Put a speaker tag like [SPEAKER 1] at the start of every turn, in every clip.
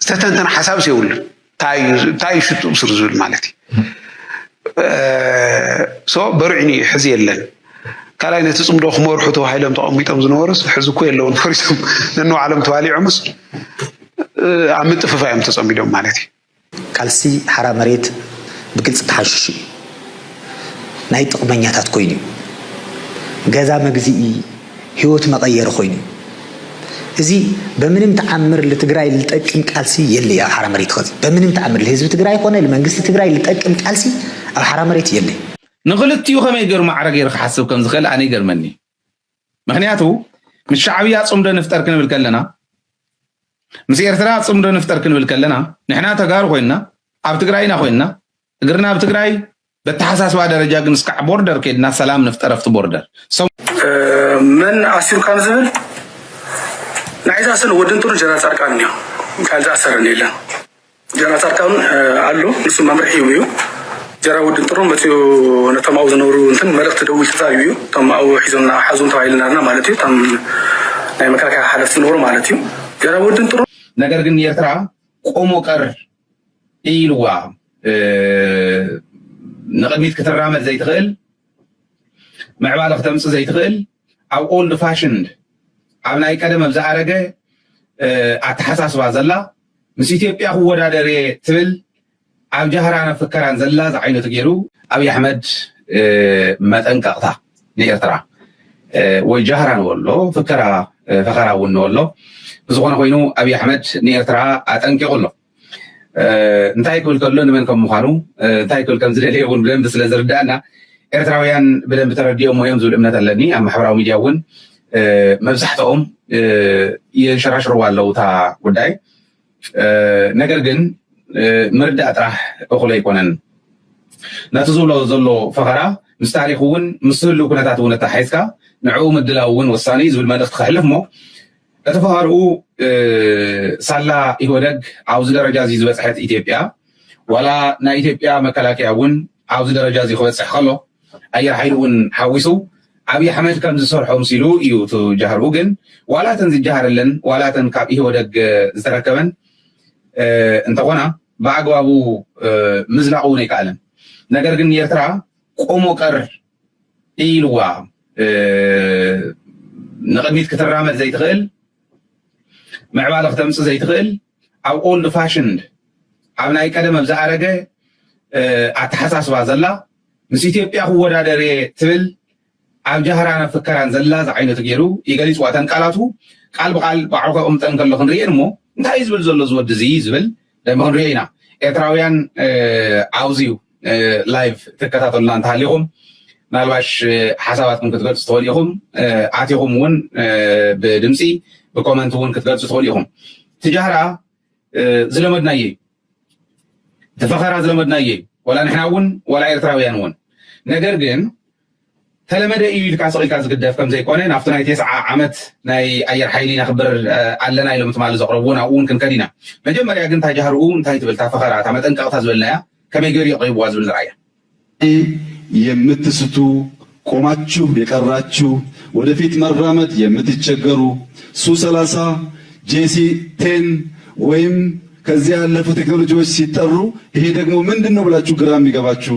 [SPEAKER 1] ዝተተንተነ ሓሳብስ የብሉን እንታይ እዩ ሽጡ ብስሩ ዝብል ማለት እዩ ሶ በርዕኒ እዩ ሕዚ የለን ካልኣይ ነቲ ፅምዶ ክመርሑ ተባሂሎም ተቐሚጦም ዝነበሩስ ሕዚ እኮ የለውን ፈሪሶም ነንባዕሎም ተባሊዖምስ ኣብ ምጥፍፋ እዮም ተፀሚዶም ማለት እዩ ቃልሲ
[SPEAKER 2] ሓራ መሬት ብግልፂ ተሓሺሹ እዩ። ናይ ጥቕመኛታት ኮይኑ እዩ። ገዛ መግዝኢ፣ ህይወት መቐየሪ ኮይኑ እዩ። እዚ በምንም ተኣምር ልትግራይ ልጠቅም ቃልሲ የለይ ኣብ ሓራ መሬት ኸዚ። በምንም ተኣምር ልህዝቢ ትግራይ ኾነ ልመንግስቲ ትግራይ ልጠቅም ቃልሲ ኣብ ሓራ መሬት የለይ። ንኽልቲኡ
[SPEAKER 3] ከመይ ገይሩ ማዕረ ገይሩ ክሓስብ ከም ዝኽእል ኣነ ይገርመኒ እዩ። ምክንያቱ ምስ ሻዕብያ ጽምዶ ንፍጠር ክንብል ከለና ምስ ኤርትራ ጽምዶ ንፍጠር ክንብል ከለና ንሕና ተጋሩ ኮይንና ኣብ ትግራይና ኮይንና እግርና ኣብ ትግራይ በተሓሳስባ ደረጃ ግን እስካዕ ቦርደር ከድና ሰላም ንፍጠር ኣብቲ ቦርደር መን
[SPEAKER 4] ኣሲሩካ ንዝብል ናይ ዝኣሰር ወዲ እንትሩ ጀነራል ፃድቃን እኒኦ ካልእ ዝኣሰረኒ የለን ጀነራል ፃድቃን ኣሎ ንሱ መምርሒ እዩ እዩ ጀራ ውድን ጥሩ መፅኡ ነቶም ኣብኡ ዝነብሩ እንትን መልእክቲ ደዊል ተዛሪቡ እዩ እቶም ኣብኡ ሒዞም ሓዙም ተባሂልና ኣለና ማለት እዩ እቶም ናይ መከላከያ ሓለፍቲ ዝነበሩ ማለት እዩ ጀራ ውድን ጥሩ ነገር ግን ኤርትራ
[SPEAKER 3] ቆሞ ቀር ኢልዋ ንቕድሚት ክትራመድ ዘይትኽእል ምዕባለ ክተምፅ ዘይትኽእል ኣብ ኦልድ ፋሽንድ ኣብ ናይ ቀደም ኣብ ዝኣረገ ኣተሓሳስባ ዘላ ምስ ኢትዮጵያ ክወዳደር እየ ትብል ኣብ ጃህራን ፍከራን ዘላ ዝዓይነቱ ገይሩ ኣብይ ኣሕመድ መጠንቀቕታ ንኤርትራ ወይ ጃህራ ንበሎ ፍከራ ፈኸራ እውን ንበሎ ብዝኾነ ኮይኑ ኣብይ ኣሕመድ ንኤርትራ ኣጠንቂቑ ኣሎ። እንታይ ክብል ከሎ ንመን ከም ምዃኑ እንታይ ክብል ከም ዝደለየ እውን ብደንቢ ስለ ዝርዳእና ኤርትራውያን ብደንቢ ተረዲኦሞ እዮም ዝብል እምነት ኣለኒ ኣብ ማሕበራዊ ሚድያ እውን መብዛሕትኦም የንሸራሽርዋ ኣለዉ እታ ጉዳይ። ነገር ግን ምርዳእ ጥራሕ እኹል ኣይኮነን። ነቲ ዝብሎ ዘሎ ፈኸራ ምስ ታሪኽ እውን ምስ ህልው ኩነታት እውን ኣተሓሒዝካ ንዕኡ ምድላው እውን ወሳኒ እዩ ዝብል መልእኽቲ ከሕልፍ እሞ እቲ ፈኸርኡ ሳላ ኢህወደግ ኣብዚ ደረጃ እዚ ዝበፅሐት ኢትዮጵያ ዋላ ናይ ኢትዮጵያ መከላከያ እውን ኣብዚ ደረጃ እዚ ክበፅሕ ከሎ ኣየር ሓይሊ እውን ሓዊሱ ኣብይ ኣሕመድ ከም ዝሰርሖ ምሲሉ እዩ እቲ ጃህርኡ ግን ዋላ እተን ዝጃሃረለን ዋላ እተን ካብ ኢህወደግ ዝተረከበን እንተኾና ብኣግባቡ ምዝላቕ እውን ኣይከኣለን ነገር ግን ንኤርትራ ቆሞ ቀር ኢልዋ ንቕድሚት ክትራመድ ዘይትኽእል ምዕባለ ክተምፅ ዘይትኽእል ኣብ ኦልድ ፋሽንድ ኣብ ናይ ቀደም ኣብ ዝኣረገ ኣተሓሳስባ ዘላ ምስ ኢትዮጵያ ክወዳደር እየ ትብል ኣብ ጃህራን ኣብ ፍከራን ዘላ ዝዓይነቱ ገይሩ ይገሊፅዋ እተን ቃላቱ ቃል ብቃል ባዕሉ ከቕምጠን ከሎ ክንርእየን እሞ እንታይ እዩ ዝብል ዘሎ ዝወዲ እዚ ዝብል ክንሪኦ ኢና ኤርትራውያን ኣብዚ ዩ ላይቭ ትከታተሉና እንተሃሊኹም ምናልባሽ ሓሳባትኩም ክትገልጹ ትኽእሉ ኢኹም ኣቲኹም እውን ብድምፂ ብኮመንት እውን ክትገልጹ ትኽእሉ ኢኹም ትጃህራ ዝለመድናዮ እዩ እቲ ፈኸራ ዝለመድናዮ እዩ ወላ ንሕና እውን ወላ ኤርትራውያን እውን ነገር ግን ተለመደ ኢዩ ኢልካ ስቕ ኢልካ ዝግደፍ ከምዘይኮነ ናብቲ ናይ ቴስዓ ዓመት ናይ ኣየር ሓይሊ ነኽብር ኣለና ኢሎም ትማሊ ዘቕረብዎ ናብኡ ውን ክንከድ ኢና። መጀመርያ ግን እታ ጃህርኡ እንታይ ትብል እታ ፈኸራ እታ መጠንቀቕታ ዝበልናያ ከመይ ገይሩ የቕሪብዋ ዝብል ንርኣያ። ሻሂ የምትስቱ
[SPEAKER 5] ቆማችሁ የቀራችሁ ወደፊት መራመድ የምትቸገሩ ሱ ሰላሳ፣ ጄሲ ቴን ወይም ከዚያ ያለፉ ቴክኖሎጂዎች ሲጠሩ ይሄ ደግሞ ምንድን ነው ብላችሁ ግራ የሚገባችሁ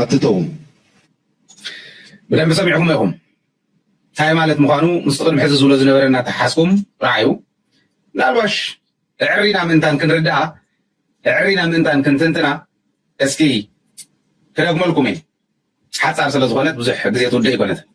[SPEAKER 5] ኣትተውም
[SPEAKER 3] ብደንቢ ሰሚዕኩሞ ኢኹም ታይ ማለት ምዃኑ ምስቲ ቅድሚ ሕዚ ዝብሎ ዝነበረ እናተሓሓዝኩም ረኣዩ ምናልባሽ እዕሪና ምእንታን ክንርድኣ እዕሪና ምእንታን ክንትንትና እስኪ ክደግመልኩም እየ ሓፃር ስለዝኾነት ብዙሕ ግዜ ትውድእ ኣይኮነትን።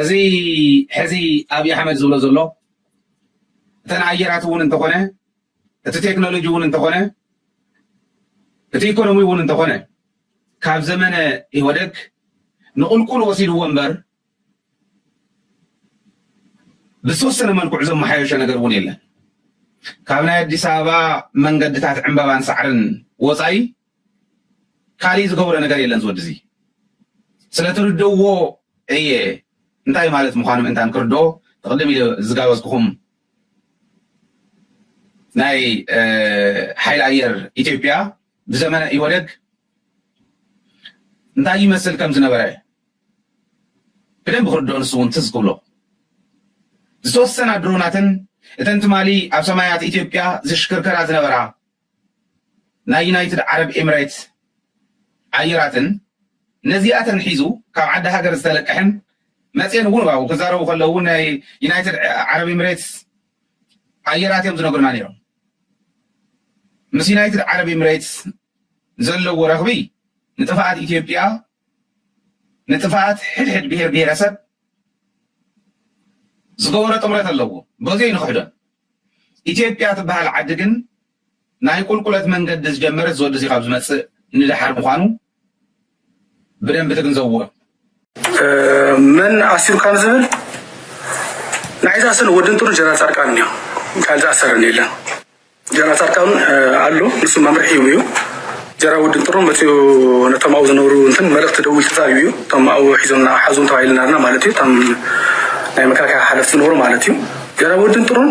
[SPEAKER 3] እዚ ሕዚ ኣብዪ ኣሕመድ ዝብሎ ዘሎ እተን ኣየራት እውን እንተኾነ እቲ ቴክኖሎጂ እውን እንተኾነ እቲ ኢኮኖሚ እውን እንተኾነ ካብ ዘመነ ኢህወደግ ንቁልቁል ወሲድዎ እምበር ብዝተወሰነ መልክዑ ዘመሓየሾ ነገር እውን የለን። ካብ ናይ ኣዲስ ኣበባ መንገድታት ዕምበባን ሳዕርን ወፃኢ ካሊእ ዝገብሮ ነገር የለን ዝወዲ እዚ ስለትርደዎ እየ እንታይ ማለት ምዃኑ ምእንታን ክርድኦ ትቕድም ኢለ ዝጋበዝኩኹም ናይ ሓይሊ ኣየር ኢትዮጵያ ብዘመነ ኢህወደግ እንታይ ይመስል ከም ዝነበረ ብደንቢ ክርድኦ ንሱ እውን ትዝ ክብሎ ዝተወሰና ድሮናትን እተን ትማሊ ኣብ ሰማያት ኢትዮጵያ ዝሽክርከራ ዝነበራ ናይ ዩናይትድ ዓረብ ኤምሬት ኣየራትን ነዚኣተን ሒዙ ካብ ዓዲ ሃገር ዝተለቅሐን መፅኤን እውን ባው ክዛረቡ ከለዉ እውን ናይ ዩናይትድ ዓረብ ኤምሬትስ ኣየራት እዮም ዝነግሩና ነይሮም ምስ ዩናይትድ ዓረብ ኤምሬትስ ዘለዎ ረኽቢ ንጥፍኣት ኢትዮጵያ ንጥፍኣት ሕድሕድ ብሄር ብሄረሰብ ዝገበሮ ጥምረት ኣለዎ በዙይ ኣይንኽሕዶን። ኢትዮጵያ ትበሃል ዓዲ ግን ናይ ቁልቁለት መንገዲ ዝጀመረት ዝወደሲ ካብ ዝመፅእ ንደሓር ምዃኑ ብደንቢ ትግንዘብዎ።
[SPEAKER 4] መን ኣሲሩ ካብ ዝብል ናይ ዝኣሰር ወዲ እንትሩ ጀነራል ፃድቃን እዩ ካልእ ዝኣሰረን የለን ጀነራል ፃድቃን ኣሎ ንሱ መምርሒ እዩ ጀራ ወዲ እንትሩ መፅኡ ነቶም ኣብኡ ዝነብሩ እንትን መልእክቲ ደዊል ተዛሪቡ እዩ እቶም ኣብኡ ሒዞና ሓዙም ተባሂልና ኣለና ማለት እዩ እቶም ናይ መከላከያ ሓለፍቲ ዝነበሩ ማለት እዩ ጀራ ወዲ እንትሩን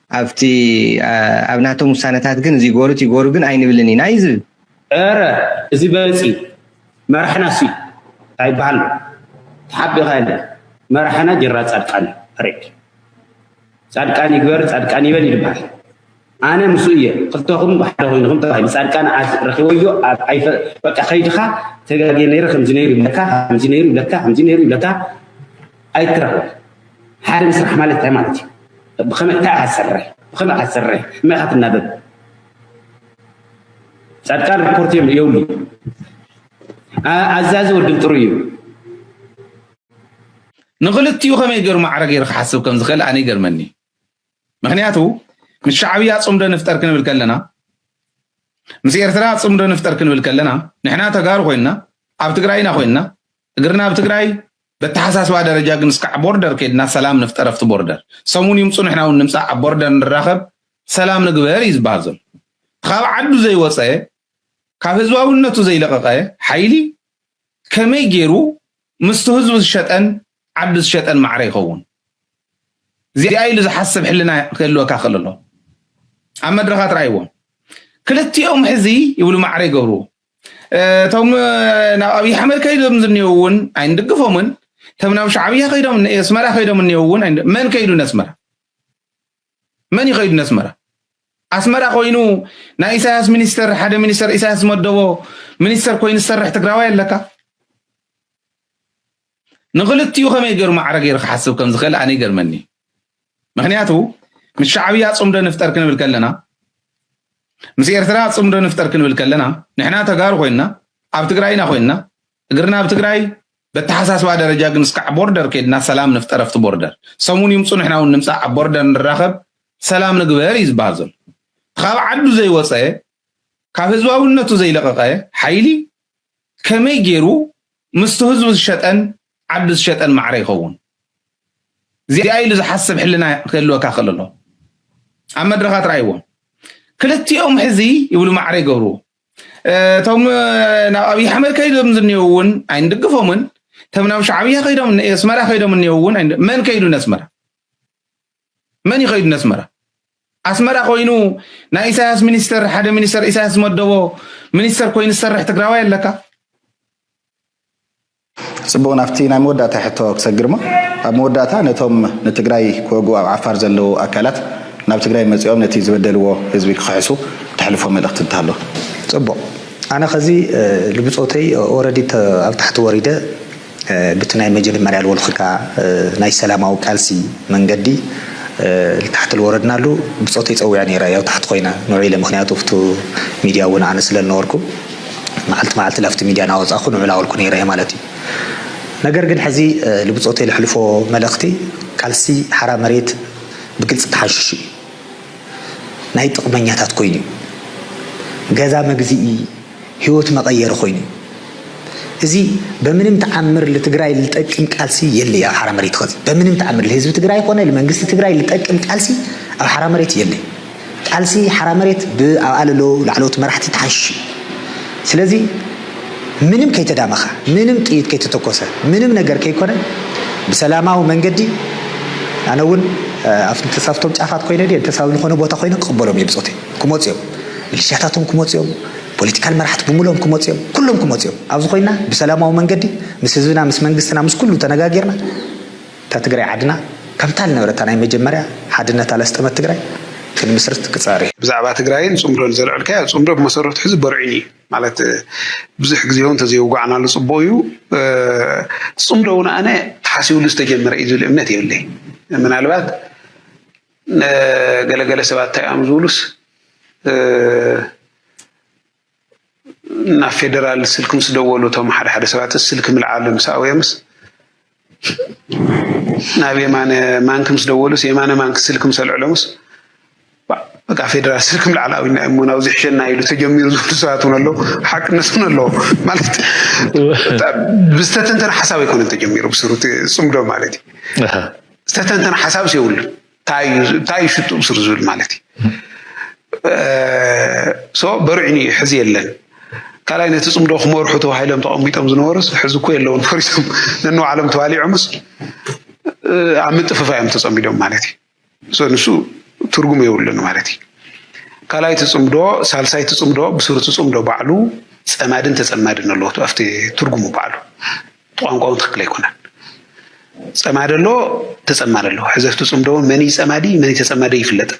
[SPEAKER 6] ኣብቲ ኣብ ናቶም ውሳነታት ግን እዚ ይግበሩ እቲ ይግበሩ ግን ኣይንብልን ኢና እዩ ዝብል። እረ
[SPEAKER 7] እዚ በለጽ እዩ መራሕናስ እዩ ታይ ይበሃል ኣሎ ተሓቢእኻ የለን መራሕና ጀነራል ፃድቃን እዩ ፐሬድ ፃድቃን ይግበር ፃድቃን ይበል እዩ ዝበሃል ኣነ ምስኡ እየ ክልተኹም ብሓደ ኮይንኹም ተባሂሉ ፃድቃን ረኪበዮ በቃ ከይድኻ ተጋግየ ነይረ ከምዚ ነይሩ ይብለካ ከምዚ ነይሩ ይብለካ ከምዚ ነይሩ ይብለካ ኣይትረኽቦን ሓደ ምስራሕ ማለት እንታይ ማለት እዩ ብኸመይ እንታይ ኢኻ ትሰርሕ ብኸመይ ኢኻ ትሰርሕ መይ ኢኻ ትናበብ ጻድቃን ሪፖርት እዮም የብሉ ኣዛዚ ወድብ ጥሩ እዩ
[SPEAKER 3] ንክልቲኡ ከመይ ገይሩ ማዕረ ገይሩ ክሓስብ ከም ዝኽእል ኣነ ይገርመኒ ምክንያቱ ምስ ሻዕብያ ፅምዶ ንፍጠር ክንብል ከለና ምስ ኤርትራ ፅምዶ ንፍጠር ክንብል ከለና ንሕና ተጋሩ ኮይንና ኣብ ትግራይና ኮይንና እግርና ኣብ ትግራይ በተሓሳስባ ደረጃ ግን እስካዕ ቦርደር ከድና ሰላም ንፍጠር ኣብቲ ቦርደር ሰሙን ይምፁ ንሕና እውን ንምፃእ ኣብ ቦርደር ንራኸብ ሰላም ንግበር እዩ ዝበሃል ዘሎ ካብ ዓዱ ዘይወፀ ካብ ህዝባዊነቱ ዘይለቐቐ ሓይሊ ከመይ ገይሩ ምስቲ ህዝቡ ዝሸጠን ዓዱ ዝሸጠን ማዕረ ይኸውን እዚኣ ኢሉ ዝሓስብ ሕልና ክህልወካ ክእል ኣሎ ኣብ መድረኻት ርኣይዎም ክልቲኦም ሕዚ ይብሉ ማዕረ ይገብርዎ እቶም ናብ ኣብይ ኣሕመድ ከይዶም ዝኒው እውን ኣይንድግፎምን እቶም ናብ ሻዕብያ ከይዶም ኣስመራ ከይዶም እኒው እውን መን ከይዱ ነስመራ መን ይኸይዱ ነስመራ ኣስመራ ኮይኑ ናይ ኢሳያስ ሚኒስተር ሓደ ሚኒስተር ኢሳያስ ዝመደቦ ሚኒስተር ኮይኑ ዝሰርሕ ትግራዋይ ኣለካ ንክልቲኡ ከመይ ገይሩ ማዕረ ገይሩ ክሓስብ ከም ዝኽእል ኣነ ይገርመኒ ምክንያቱ ምስ ሻዕብያ ጽምዶ ንፍጠር ክንብል ከለና ምስ ኤርትራ ጽምዶ ንፍጠር ክንብል ከለና ንሕና ተጋሩ ኮይንና ኣብ ትግራይና ኮይንና እግርና ኣብ ትግራይ በተሓሳስባ ደረጃ ግን እስካዕ ቦርደር ከድና ሰላም ንፍጠር ኣብቲ ቦርደር ሰሙን ይምፁ ንሕና እውን ንምፃእ ኣብ ቦርደር ንራኸብ ሰላም ንግበር እዩ ዝበሃል ዘሎ ካብ ዓዱ ዘይወፀ ካብ ህዝባውነቱ ዘይለቐቐ ሓይሊ ከመይ ጌሩ ምስቲ ህዝቡ ዝሸጠን ዓዱ ዝሸጠን ማዕረ ይኸውን ዚኣ ኢሉ ዝሓስብ ሕልና ክህልወካ ከለሎ ኣብ መድረኻት ራይዎም ክልቲኦም ሕዚ ይብሉ ማዕረ ይገብርዎ እቶም ናብ ኣብዪ ኣሕመድ ከይዶም ዝኒው እውን ኣይንድግፎምን እቶም ናብ ሻዕብያ ከይዶም ኣስመራ ከይዶም እኒው እውን መን ከይዱ ነስመራ መን እዩ ከይዱ ነስመራ ኣስመራ ኮይኑ ናይ ኢሳያስ ሚኒስተር ሓደ ሚኒስተር ኢሳያስ ዝመደቦ ሚኒስተር ኮይኑ ዝሰርሕ ትግራዋይ ኣለካ
[SPEAKER 8] ፅቡቅ ናብቲ ናይ መወዳእታ ሕቶ ክሰግር ሞ ኣብ መወዳእታ ነቶም ንትግራይ ክወግኡ ኣብ ዓፋር ዘለዉ ኣካላት ናብ ትግራይ መፂኦም ነቲ ዝበደልዎ ህዝቢ ክኽሕሱ ተሕልፎ መልእኽቲ እንተሃሎ ፅቡቅ
[SPEAKER 2] ኣነ ከዚ ልብፆተይ ኦረዲ ኣብ ታሕቲ ወሪደ ብቲ ናይ መጀድመርያ ልወልክካ ናይ ሰላማዊ ቃልሲ መንገዲ ልታሕቲ ልወረድናሉ ብጾተይ ጸዊዐ ነይረ ያው ታሕቲ ኮይና ንዑ ኢለ ምክንያቱ ኣብቱ ሚድያ እውን ኣነ ስለ ልነበርኩ መዓልቲ መዓልቲ ላብቲ ሚድያ ናወጻኩ ንዑ ላበልኩ ነይረ ማለት እዩ ነገር ግን ሕዚ ልብጾተይ ለሕልፎ መልእክቲ ቃልሲ ሓራ መሬት ብግልጺ ተሓንሽሹ እዩ ናይ ጥቅመኛታት ኮይኑ እዩ ገዛ መግዝኢ ሂወት መቀየሪ ኮይኑ እዩ እዚ በምንም ተዓምር ልትግራይ ልጠቅም ቃልሲ የለይ ኣብ ሓራ መሬት ኸዚ በምንም ተዓምር ልህዝቢ ትግራይ ኾነ ልመንግስቲ ትግራይ ልጠቅም ቃልሲ ኣብ ሓራ መሬት የለይ ቃልሲ ሓራ መሬት ብኣብኣ ለሎ ላዕለዎት መራሕቲ ተሓሽሽ እዩ ስለዚ ምንም ከይተዳመኻ ምንም ጥይት ከይተተኮሰ ምንም ነገር ከይኮነ ብሰላማዊ መንገዲ ኣነ እውን ኣብቶም ጫፋት ኮይነ ድየ እንተሳብ ዝኾነ ቦታ ኮይነ ክቕበሎም እየ ብፆተይ ክመጹ እዮም ሚሊሽያታቶም ክመጹ እዮም ፖለቲካል መራሕቲ ብምሎም ክመጹ እዮም ኩሎም ክመጹ እዮም ኣብዚ ኮይና ብሰላማዊ መንገዲ ምስ ህዝብና ምስ መንግስትና ምስ ኩሉ ተነጋጊርና እታ ትግራይ ዓድና ከምታ ልነበረታ ናይ መጀመርያ ሓድነታ ለስጠመት ትግራይ ክንምስርት ክጸሪ። ብዛዕባ ትግራይን
[SPEAKER 1] ጽምዶን ዘልዐልካዮ ጽምዶ ብመሰረቱ ሕዚ በርዒኑ እዩ ማለት ብዙሕ ግዜ እውን ተዘየውጋዕናሉ ጽቡቅ እዩ ጽምዶ እውን ኣነ ተሓሲብሉ ዝተጀመረ እዩ ዝብል እምነት የብለይ ምናልባት ገለ ገለ ሰባት እንታይ እዮም ዝብሉስ ናብ ፌደራል ስልኪ ምስ ደወሉ እቶም ሓደ ሓደ ሰባት ስልኪ ምልዓሉ ምስ ኣውየምስ ናብ የማነ ማንኪ ምስ ደወሉስ የማነ ማንኪ ስልኪ ምስ ኣልዕሎምስ በቃ ፌደራል ስልኪ ምልዓል ኣብና እሞ ናብ ዝሕሸና ኢሉ ተጀሚሩ ዝብሉ ሰባት እውን ኣለዉ ሓቅነት እውን ኣለዎ ማለት ብዝተተንተነ ሓሳብ ኣይኮነን ተጀሚሩ ብስሩ ፅምዶ ማለት እዩ ዝተተንተነ ሓሳብስ የብሉን እንታይ እዩ ሽጡ ብስሩ ዝብል ማለት እዩ በርዕኒ እዩ ሕዚ የለን ካልኣይ ነቲ ፅምዶ ክመርሑ ተባሂሎም ተቐሚጦም ዝነበሩስ ሕዚ እኮ የለውን ፈሪሶም ነንባዕሎም ተባሊዖምስ ኣብ ምጥፍፋ እዮም ተፀሚዶም ማለት እዩ ንሱ ትርጉም የብሉን ማለት እዩ ካልኣይ ትፅምዶ ሳልሳይ ትፅምዶ ብስሩ ትፅምዶ ባዕሉ ፀማድን ተፀማድን ኣለዎ ኣብቲ ትርጉሙ ባዕሉ ቋንቋውን ትክክል ኣይኮነን። ጸማዲ ኣሎ ተጸማዲ ኣሎ። ሕዘፍቲ ጽምዶ እውን መን እዩ ጸማዲ መን እዩ ተጸማዲ ኣይፍለጥን።